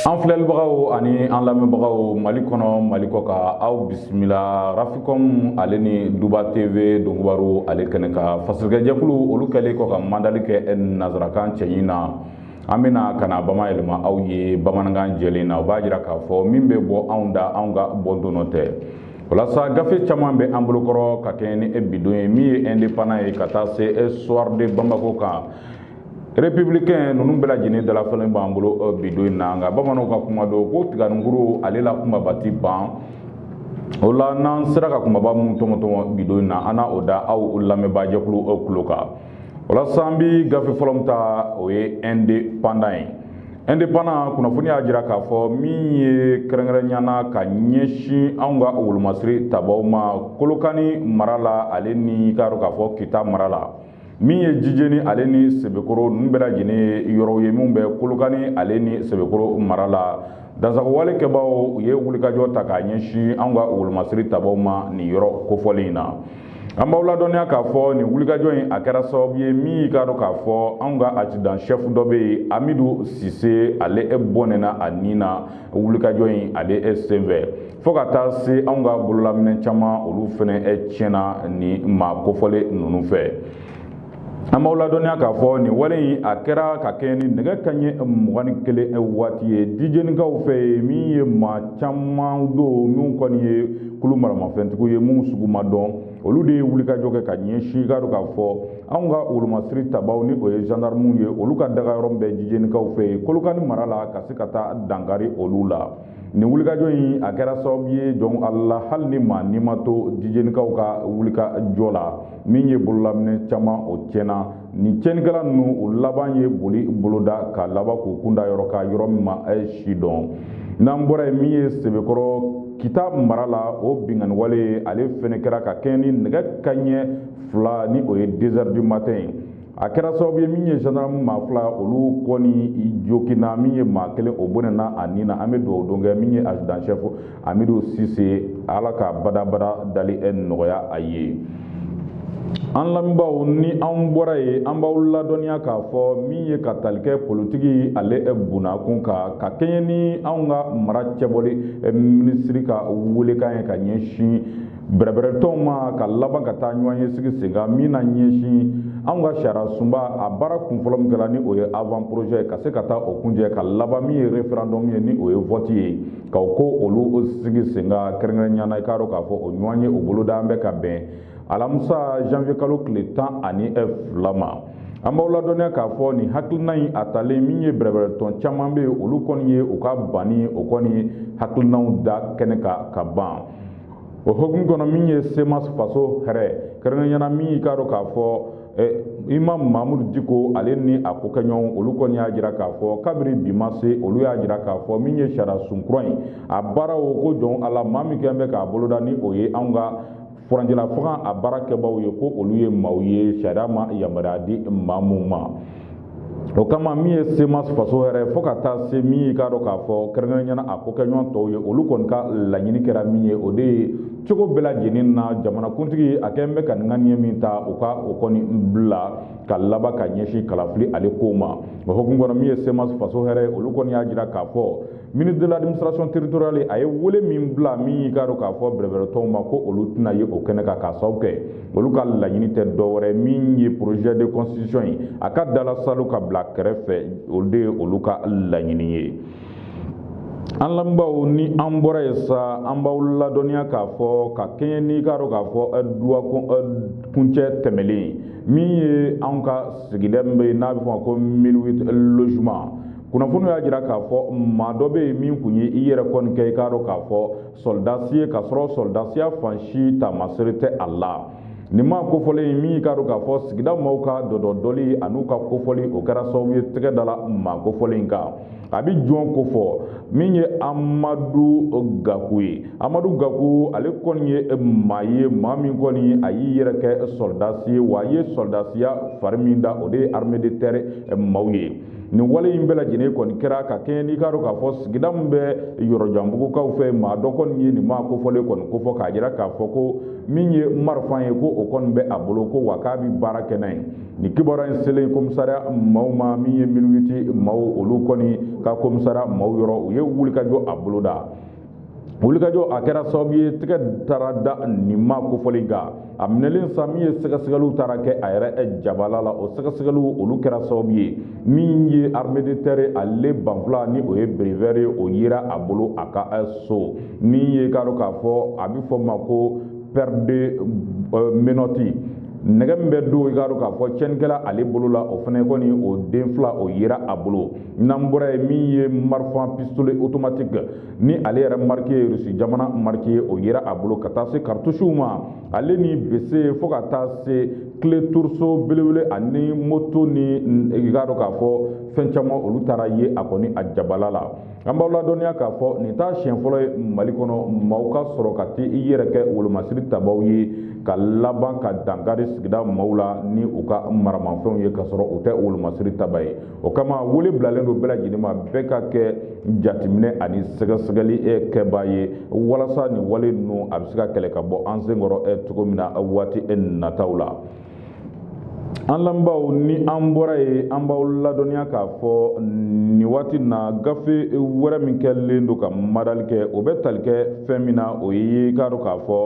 an filɛlibagaw ani an lamɛnbagaw mali kɔnɔ mali kɔkan aw bisimila rafikɔm ale ni duba tv donkubaru ale kɛnɛ kan fasirikɛjɛkulu olu kɛlen kɔ ka mandali kɛ nazarakan cɛɲi na an bɛna ka na bamayɛlɛma aw ye bamanankan jɛlen na o b'a jira k'a fɔ min bɛ bɔ anw da anw ka bɔ donnɔ tɛ walasa gafe caman bɛ an bolokɔrɔ ka kɛɲɛ ni bi don ye min ye indépendant ye ka taa se soir de bamako kan républicain ninnu bɛɛ lajɛlen dalafalen b'an bolo euh, bi don in na nka bamananw ka kuma don ko tiganikuru ale la kumaba ti ban o la n'an sera ka kumaba minnu tɔmɔtɔmɔ bi don in na an na o da aw lamɛnbaajɛkulu aw tulo kan walasa an bi gafe fɔlɔ min ta o ye indépendant ye indépendant kunnafoni y'a jira k'a fɔ min ye kɛrɛnkɛrɛnya na ka ɲɛsin anw ka wolomasiri tabaw ma kolokani mara la ale ni k'a dɔn k'a fɔ kita mara la min ye jijeni ale ni sebekɔrɔ ninnu bɛɛ lajɛlen ye yɔrɔw ye minnu bɛ kolokani ale ni sebekɔrɔ mara la dansagonwale kɛbaaw u ye wulikajɔ ta k'a ɲɛsin anw ka wolomasiri tabaw ma nin yɔrɔ kofɔlen in na an b'aw ladɔnniya k'a fɔ nin wulikajɔ in a kɛra sababu ye min y'i k'a dɔn k'a fɔ anw ka adjudant chef dɔ bɛ yen amidu sise ale e bɔnɛna a ni na wulikajɔ in ale e senfɛ fo ka taa se anw ka bololaminɛ caman olu fana e tiɲɛna nin maa kofɔlen ninnu fɛ an b'aw ladɔnniya k'a fɔ nin wale in a kɛra ka kɛɲɛ ni nɛgɛ kanɲɛ mugan ni kelen waati ye jijenikaw fɛ yen min ye maa caman don min kɔni ye kulu maramafɛntigiw ye minnu sugu ma dɔn olu de ye wulikajɔ kɛ ka ɲɛsin k'a dɔn k'a fɔ anw ka wolomasiri tabaw ni o ye zandarmuw ye olu ka dagayɔrɔ bɛ jijenikaw fɛ yen kolokani mara la ka se ka taa dankari olu la nin wulikajɔ in a kɛra sababu ye jɔn ala hali ni maa ni ma to jijenikaw ka wulikajɔ la min ye bololaminɛ caman o tiɲɛna nin tiɲɛnikɛla ninnu o laban ye boli boloda ka laban k'u kun da yɔrɔ kan yɔrɔ min ma sidɔn n'an bɔra yen min ye sebekɔrɔ kita mara la o binkanniwale ale fɛnɛ kɛra ka kɛɲɛ ni nɛgɛ kanɲɛ fila ni o ye deux heures du matin ye a kɛra sababu ye min ye zandarmu maa fila olu kɔni joginna min ye maa kelen o bɔnɛna a ni na an bɛ dugawu don kɛ min ye adjudant chef amidu sise ala ka badabada dali nɔgɔya a ye an lamɛnbaaw ni an bɔra yen an b'aw ladɔnniya k'a fɔ min ye ka tali kɛ politiki ale bunnakun kan ka kɛɲɛ ni anw ka mara cɛbɔli minisiri ka welekan ye ka ɲɛsin bɛrɛbɛrɛtɔnw ma ka laban ka taa ɲɔgɔnye sigi sen kan min na ɲɛsin anw ka sariya sunba a baara kunfɔlɔ min kɛra ni o ye avant projet ka se ka taa o kuncɛ ka laban min ye referendum ye ni o ye vote ye ka o ko olu sigi sen kan kɛrɛnkɛrɛnnenya na i k'a dɔn k'a fɔ o ɲɔgɔnye o bolodalen bɛ ka bɛn alamisa janvier kalo tile tan ani fila ma an b'aw ladɔnniya k'a fɔ nin hakilina in a talen min ye bɛrɛbɛrɛtɔn caman bɛ yen olu kɔni ye u ka banni o kɔni hakilinaw da kɛnɛ kan ka ban o hokumu kɔnɔ min ye semas faso hɛrɛ kɛrɛnkɛrɛnyana min y'i k'a dɔn k'a fɔ eh, imam mamudu diko ale ni a kokɛɲɔgɔnw olu kɔni y'a jira k'a fɔ kabiri bi ma se olu y'a jira k'a fɔ min ye sariya sun kura in a baara o ko jɔn ala maa min kɛn bɛ k'a boloda ni o ye anw ka furancɛla fanga a baara kɛbaaw ye ko olu ye maaw ye sariya ma yamaruya di maa mun ma o kama min ye semas faso hɛrɛ fo ka taa se min y'i k'a dɔn k'a fɔ kɛrɛnkɛrɛnyana a kokɛɲɔgɔn tɔw ye olu kɔni ka laɲini kɛra min ye o de ye cogo bɛɛ lajɛlen na jamanakuntigi a kɛlen bɛ ka ŋaniya min ta u ka o kɔni bila ka laban ka ɲɛsin kalafili ale kow ma o hukumu kɔnɔ min ye semas faso hɛrɛ olu kɔni y'a jira k'a fɔ ministre de l'administration territoriale a ye wele min bila min y'i k'a dɔn k'a fɔ bɛrɛbɛrɛtɔnw ma ko olu tɛna ye o kɛnɛ kan k'a sababu kɛ olu ka laɲini tɛ dɔwɛrɛ min ye projet de constitution ye a ka dala salu ka bila kɛrɛfɛ o de ye olu ka laɲini ye an lamɛnbaaw ni an bɔra yen sa an b'aw ladɔnniya k'a fɔ ka kɛɲɛ n'i k'a dɔn k'a fɔ eh, duwa eh, kuncɛ tɛmɛlen min ye anw ka sigida min bɛ yen n'a bɛ fɔ a ma ko 1008 logements kunnafoniw y'a jira k'a fɔ maa dɔ bɛ yen min tun ye i yɛrɛ kɔni kɛ i k'a dɔn k'a fɔ sɔlidasi ye k'a sɔrɔ sɔlidasiya fan si taamasere tɛ a la nin maa kofɔlen in min y'i k'a dɔn k'a fɔ sigida maaw ka dɔdɔdɔli an'u ka kofɔli o kɛra sababu ye tɛgɛ dala maa kofɔlen in kan a bɛ jɔn kofɔ min ye amadu gaku ye amadu gaku ale kɔni ye maa ye maa min kɔni a y'i yɛrɛ kɛ sɔrɔdasi ye wa a ye sɔrɔdasiya fari min da o de ye armée de terre maaw ye nin wale in bɛɛ lajɛlen kɔni kɛra ka kɛɲɛ n'i k'a dɔn k'a fɔ sigida min bɛ yɔrɔjanbugukaw fɛ maa dɔ kɔni ye nin maa kofɔlen kɔni kofɔ k'a jira k'a fɔ ko min ye marifa ye ko o kɔni bɛ a bolo ko wa k'a bɛ baara kɛ n'a ye nin kibaruya in selen komisariya maaw ma min ye 1008 maaw olu kɔni ka komisariya maaw yɔrɔ u ye wulikajɔ a boloda wulikajɔ a kɛra sababu ye tɛgɛ taara da nin maa kofɔlen kan a minɛlen sa min ye sɛgɛsɛgɛliw taara kɛ a yɛrɛ jabala la o sɛgɛsɛgɛliw olu kɛra sababu ye min ye armée de terre ale banfula ni o ye béret vert ye o yera a bolo a ka so min y'i k'a dɔn k'a fɔ a bɛ fɔ a ma ko paire de euh, menottes nɛgɛ min bɛ don i k'a dɔn k'a fɔ tiɲɛnikɛla ale bolo la o fana kɔni o den fila o yera a bolo n'an bɔra ye min ye marifa pistole automatique ni ale yɛrɛ mariki ye rusi jamana mariki ye o yera a bolo ka taa se karitusiw ma ale ni bese fo ka taa se kile trousseau belebele ani moto ni i k'a dɔn k'a fɔ fɛn caman olu tara ye a kɔni a jabala la an b'aw ladɔnniya k'a fɔ nin t'a siɲɛ fɔlɔ ye mali kɔnɔ maaw ka sɔrɔ ka t'i yɛrɛ kɛ wolomasiri tabaw ye ka laban ka dankari sigida maaw la ni u ka maramafɛnw ye ka sɔrɔ u tɛ wolomasiri taba ye o kama wele bilalen don bɛɛ lajɛlen ma bɛɛ ka kɛ jateminɛ ani sɛgɛsɛgɛli eh, kɛbaa ye walasa nin wale ninnu a bɛ se ka kɛlɛ ka bɔ an senkɔrɔ eh, cogo min na eh, waati nataw la an lamɛnbaaw ni an bɔra ye an b'aw ladɔnniya k'a fɔ nin waati na gafe wɛrɛ min kɛlen don ka madali kɛ o bɛ tali kɛ fɛn min na o ye k'a dɔn k'a fɔ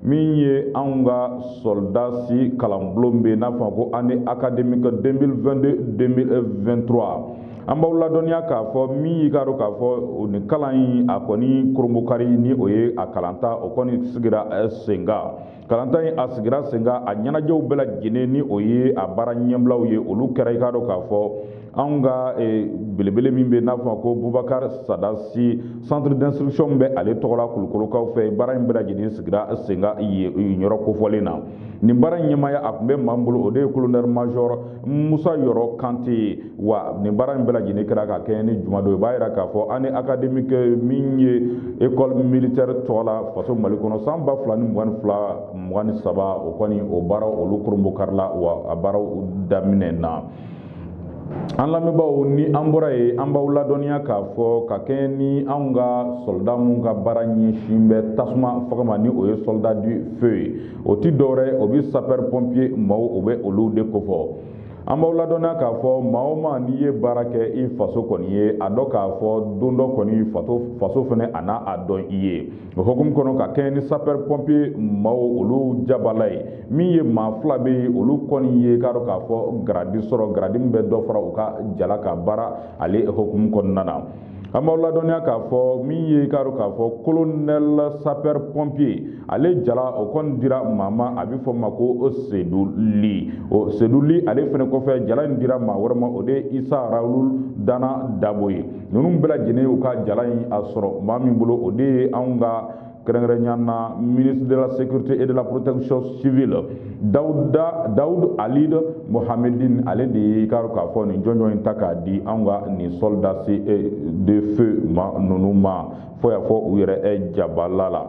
min ye anw ka sɔrɔdasi kalanbulon bɛ n'a f'a ma ko année académique 2022-2023 an b'aw ladɔnniya k'a fɔ min y'i k'a dɔn k'a fɔ nin kalan in a kɔni koronbokari ni o ye a kalanta o kɔni sigira eh, senkan kalanta in a sigira senkan a ɲɛnajɛw bɛɛ lajɛlen ni o ye a baara ɲɛbilaw ye olu kɛra i k'a dɔn k'a fɔ anw ka eh, belebele min bɛ n'a f'a ma ko bubakar sada si centre d'instruction bɛ ale tɔgɔ la kulukorokaw fɛ baara in bɛɛ lajɛlen sigira senkan yɔrɔ kofɔlen na nin baara in ɲɛmaaya a tun bɛ maa min bolo o de ye colonel major musa yɔrɔ kante wa nin baara in bɛɛ lajɛlen kɛra ka kɛɲɛ ni juma don i b'a yira k'a fɔ année académique min ye école militaire tɔgɔ la faso mali kɔnɔ san ba fila ni mugan ni fila mugan ni saba o kɔni o baaraw olu koronbokarila wa a baaraw daminɛna an lamɛnbaaw ni an bɔra ye an b'aw ladɔnniya k'a fɔ ka kɛɲɛ ni anw ka sɔlida minnu ka baara ɲɛsin bɛ tasuma faga ma ni o ye soldat du feu ye o ti dɔwɛrɛ o bi sapɛri pɔnpiye maaw o bɛ olu de kofɔ an b'aw ladɔnniya k'a fɔ maa o maa n'i ye baara kɛ i faso kɔni ye a dɔn k'a fɔ don dɔ kɔni faso fɛnɛ a n'a a dɔn i ye o hukumu kɔnɔ ka kɛɲɛ ni sapɛri pɔnpiye maaw olu jabala ye min ye maa fila bɛ yen olu kɔni ye k'a dɔn k'a fɔ garadi sɔrɔ garadi min bɛ dɔ fara u ka jala kan baara ale hukumu kɔnɔna na an b'aw ladɔnniya k'a fɔ min ye k'a dɔn k'a fɔ kolonɛli sapɛri pɔnpiye ale jala o kɔni dira maa ma a bɛ fɔ ma ko sedu li o sedu li ale fɛnɛ kɔfɛ jala in dira maa wɛrɛ ma o de ye isa rawulu dana dabo ye ninnu bɛɛ lajɛlen y'u ka jala in a sɔrɔ maa min bolo o de ye anw ka kɛrɛnkɛrɛnya na ministre de la sécurité et de la protection civile dawud ali mohamedin ale de ye k'a k'a fɔ nin jɔnjɔn in ta k'a di anw ka nin soldats eh, de feu maa ninnu ma fo y'a fɔ u yɛrɛ eh, jabala la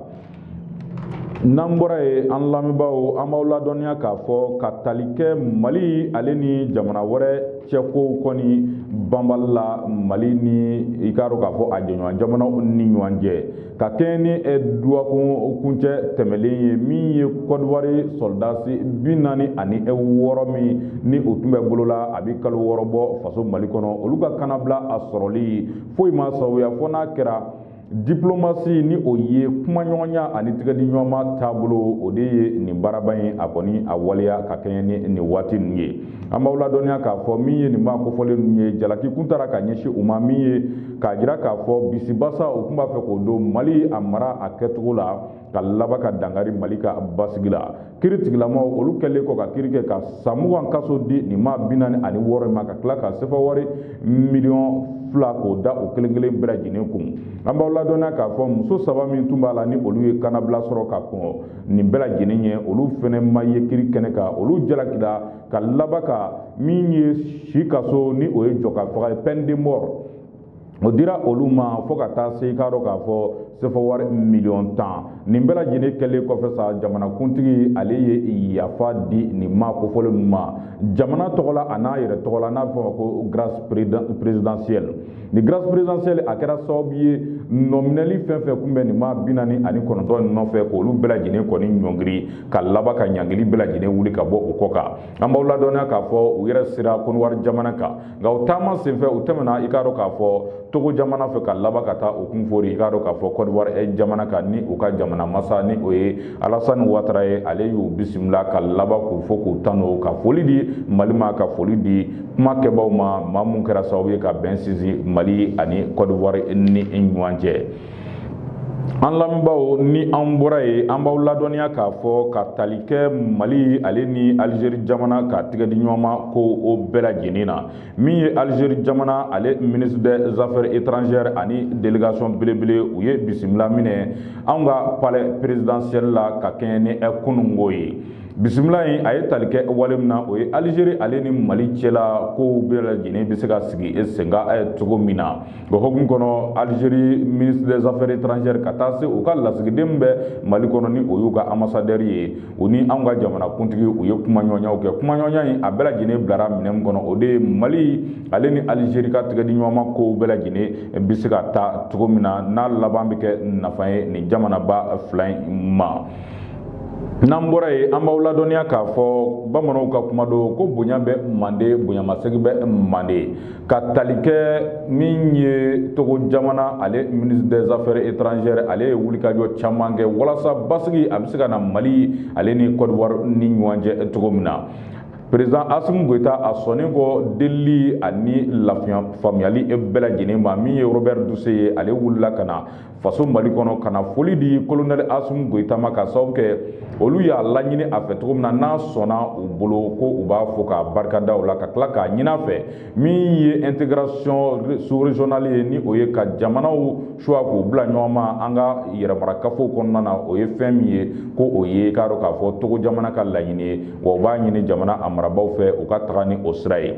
n'an bɔra ye an lamɛnbaaw an b'aw ladɔnniya k'a fɔ ka tali kɛ mali ale ni jamana wɛrɛ cɛ kow kɔni banbali la mali ni i k'a dɔn k'a fɔ a jɛɲɔgɔn jamanaw ni ɲɔgɔn cɛ ka kɛɲɛ ni eh, duwakun kuncɛ tɛmɛlen ye min ye kɔdiwari sɔrɔdasi bi naani ani eh, wɔɔrɔ min ni o tun bɛ bolo la a bɛ kalo wɔɔrɔ bɔ faso mali kɔnɔ olu ka kanabila a sɔrɔli foyi ma sababuya fo n'a kɛra diplomasi ni o ye kumaɲɔgɔnya ani tigɛdiɲɔgɔnma taabolo o de ye nin baaraba in a kɔni a waleya ka kɛɲɛ ni nin waati ninnu ye an b'aw ladɔnniya k'a fɔ min ye nin maa kofɔlen ninnu ye jalaki kun tara ka ɲɛsin u ma min ye k'a jira k'a fɔ bisibasa u tun b'a fɛ k'o don mali a mara a kɛcogo la ka laban ka dankari mali ka basigi la kiri tigilamaw olu kɛlen kɔ ka kiri kɛ ka san mugan kaso di nin maa bi naani ani wɔɔrɔ ma ka tila ka sefa wari miliyɔn fila k'o da o kelen kelen bɛɛ lajɛlen kun an b'aw ladɔnniya k'a fɔ muso saba min tun b'a la ni olu ye kanabila sɔrɔ ka kɔn nin bɛɛ lajɛlen ɲɛ olu fɛnɛ ma ye kiri kɛnɛ kan olu jalakira ka laban ka min ye si kaso ni o ye jɔ ka faga ye peine de mort o dira olu ma fo ka taa se i k'a dɔn k'a fɔ sefa wari miliyɔn tan nin bɛɛ lajɛlen kɛlen kɔfɛ sa jamanakuntigi ale ye yafa di nin maa kofɔlen ninnu ma jamana tɔgɔ la an'a yɛrɛ tɔgɔ la n'a bɛ fɔ a ma ko grâce présidentielle ni grâce présidentielle a kɛra sababu ye nɔminɛli fɛn fɛn kun bɛ nin maa bi naani ani kɔnɔntɔn in nɔfɛ k'olu bɛɛ lajɛlen kɔni ɲɔngiri ka laban ka ɲangili bɛɛ lajɛlen wuli ka bɔ u kɔ kan an b'aw ladɔnniya k'a fɔ u yɛrɛ sera kɔdiwari jamana kan nka u taama senfɛ u tɛmɛna i k'a dɔn k'a fɔ togo jamana fɛ ka laban ka taa u kun fori i k'a dɔn k'a fɔ kɔdiwari eh, jamana kan ni u ka jamana masa ni o ye alasani watara ye ale y'u bisimila ka laban k'u fo k'u tanu ka foli di mali ma ka foli di kuma kɛbaaw ma maa mun kɛra sababu ye ka bɛn sinsin mali ani kɔdiwari ni ɲɔgɔn cɛ an lamɛnbaaw ni an bɔra ye an b'aw ladɔnniya k'a fɔ ka tali kɛ mali ale ni alizeri jamana ka tigɛ di ɲɔgɔn ma ko o bɛɛ lajɛlen na min ye alizeri jamana ale ministre des affaires étrangères ani délégation belebele u ye bisimila minɛ anw ka palais présidentiel la ka kɛɲɛ ni kununko ye bisimila in a ye tali kɛ wale min na o ye alizeri ale ni mali cɛla kow bɛɛ lajɛlen bɛ se ka sigi senkan cogo min na O hukumu kɔnɔ alizeri ministre des affaires étrangères ka taa se u ka lasigiden bɛ mali kɔnɔ ni o y'u ka ambassadeur ye u ni an ka jamanakuntigi u ye kumaɲɔgɔnyaw kɛ kumaɲɔgɔnya in a bɛɛ lajɛlen bilara minɛn min kɔnɔ o de ye mali ale ni alizeri ka tigɛdiɲɔgɔnma kow bɛɛ lajɛlen bɛ se ka taa cogo min na n'a laban bɛ kɛ nafa ye nin jamanaba fila in ma n'an bɔra ye an b'aw ladɔnniya k'a fɔ bamananw ka kuma don ko bonya bɛ mande bonyamasegin bɛ mande ka tali kɛ min ye togo jamana ale ministre des affaires étrangères ale ye wulikajɔ caman kɛ walasa basigi a bɛ se ka na mali ale ni côte d'ivoire ni ɲɔgɔn cɛ cogo min na président asimu goyita a sɔnnen kɔ delili ani lafaamuyali bɛɛ lajɛlen ma min ye robert dussey ye ale wulila ka na faso mali kɔnɔ ka na foli di kolonɛli asimu goyita ma ka sababu kɛ olu y'a laɲini a fɛ cogo min na n'a sɔnna u bolo ko u b'a fo k'a barikada o la ka tila k'a ɲin'a fɛ min ye intégration sous-régionale ye ni o ye ka jamanaw choix k'u bila ɲɔgɔn ma an ka yɛrɛmarakafow kɔnɔna na o ye fɛn min ye ko o ye k'a dɔn k'a fɔ togo jamana ka laɲini ye wa u b'a ɲini jamana a marabaaw fɛ u ka taga ni o sira ye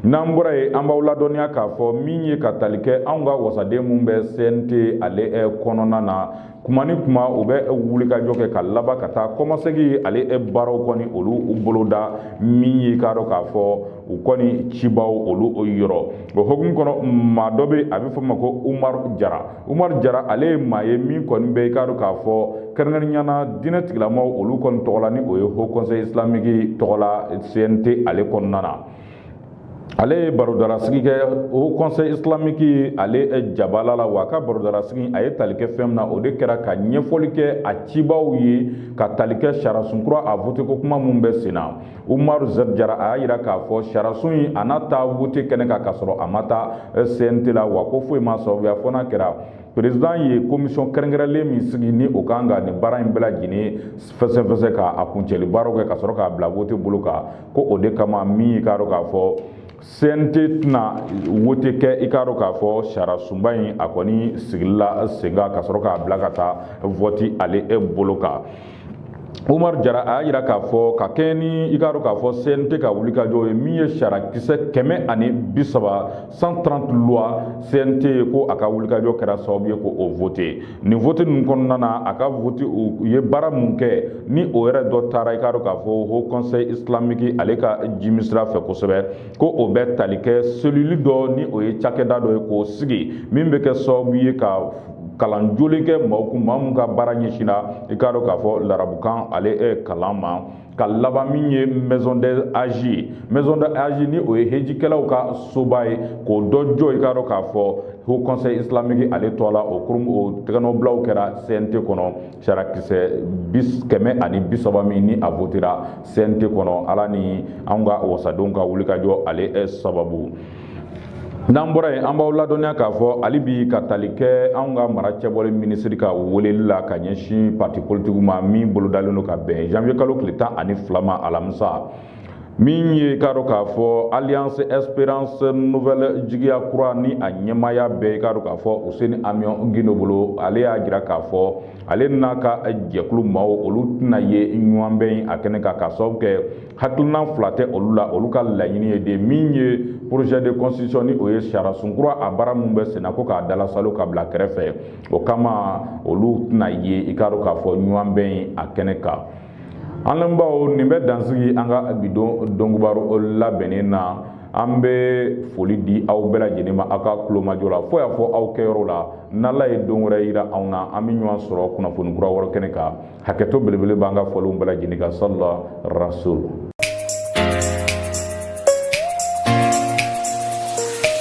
n'an bɔra yen an b'aw ladɔnniya k'a fɔ min ye ka tali kɛ anw ka wasaden minnu bɛ cnt ale eh, kɔnɔna na kuma ni kuma u bɛ eh, wulikajɔ kɛ ka laban ka taa kɔmasegin ale eh, baaraw kɔni olu boloda min ye k'a dɔn k'a fɔ u kɔni cibaaw olu yɔrɔ o hokumu kɔnɔ maa dɔ bɛ a bɛ fɔ ma ko umaru jara umaru jara ale ye maa ye min kɔni bɛ i k'a dɔn k'a fɔ kɛrɛnkɛrɛnnenya na diinɛ tigilamaaw olu kɔni tɔgɔ la ni o ye haut conseil islamique tɔgɔ la cnt ale kɔnɔna na ale ye barodarasigi kɛ haut conseil islamique ale eh, jabala la wa a ka barodarasigi a ye tali kɛ fɛn min na o de kɛra ka ɲɛfɔli kɛ a cibaaw ye ka tali kɛ sariyasun kura a vote ko kuma minnu bɛ sen na umaru zɛdi jara a y'a jira k'a fɔ sariyasun in a na taa vote kɛnɛ kan ka sɔrɔ a ma taa eh, cnt la wa ko foyi m'a sababuya fo n'a kɛra perezidan ye komisɔn kɛrɛnkɛrɛnlen min sigi ni o ka kan ka nin baara in bɛɛ lajɛlen fɛsɛfɛsɛ ka a kuncɛli baaraw kɛ ka sɔrɔ k'a bila vote bolo kan ko o de kama min k'a dɔn k'a fɔ CNT tɛna wote kɛ i k'a dɔn k'a fɔ sariyasunba in a kɔni sigila sen kan ka sɔrɔ k'a bila ka taa vɔti ale e bolo kan Umaru Jara a y'a jira k'a fɔ ka kɛɲɛ ni i k'a dɔn k'a fɔ CNT ka wulikajɔ ye min ye sariyakisɛ kɛmɛ ani bi saba 130 loi CNT ye ko a ka wulikajɔ kɛra sababu ye ko o vote nin vote ninnu kɔnɔna na a ka vote u ye baara mun kɛ ni o yɛrɛ dɔ taara i k'a dɔn k'a fɔ haut conseil islamique ale ka jimi sira fɛ kosɛbɛ ko o bɛ tali kɛ selili dɔ ni o ye cakɛda dɔ ye k'o sigi min bɛ kɛ sababu ye ka kalan jolen kɛ maaw kun maa mun ka baara ɲɛsinna i k'a dɔn k'a fɔ larabukan ale kalan ma ka laban min ye maison du hadj maison du hadj ni o ye hejikɛlaw ka soba ye k'o dɔ jɔ i k'a dɔn k'a fɔ haut conseil islamique ale tɔgɔ la o kurum o tɛgɛnɔbilaw kɛra cnt kɔnɔ sariyakisɛ bis kɛmɛ ani bi saba min ni a votera cnt kɔnɔ ala ni an ka wasadenw ka wulikajɔ ale sababu n'an bɔra yen an b'aw ladɔnniya k'a fɔ hali bi ka tali kɛ anw ka mara cɛbɔli minisiri ka weleli la ka ɲɛsin pati politigiw ma min bolodalen don ka bɛn janvier kalo tile tan ani fila ma alamisa min ye k'a dɔn k'a fɔ alliance esperance nouvelle jigiya kura ni a ɲɛmaaya bɛ k'a dɔn k'a fɔ useni amiɔn gindo bolo ale y'a jira k'a fɔ ale n'a ka jɛkulu maaw olu tɛna ye ɲɔgɔnbɛn a kɛnɛ kan k'a sababu kɛ hakilina fila tɛ olu la olu ka laɲini ye de min ye projet de constitution ni o ye sariyasun kura a baara min bɛ senna ko k'a dalasalo ka bila kɛrɛfɛ o kama olu tɛna ye i k'a dɔn k'a fɔ ɲɔgɔnbɛn in a kɛnɛ kan an lamɛnbaaw nin bɛ dan sigi an ka bi don kubaro labɛnnen na an bɛ foli di aw bɛɛ lajɛlen ma aw ka kulomajɔ la fo y'a fɔ aw kɛyɔrɔ la n'ala ye don wɛrɛ yira anw na an bɛ ɲɔgɔn sɔrɔ kunnafoni kura wɛrɛ kɛnɛ kan hakɛto belebele b'an ka fɔlenw bɛɛ lajɛlen kan salila rasul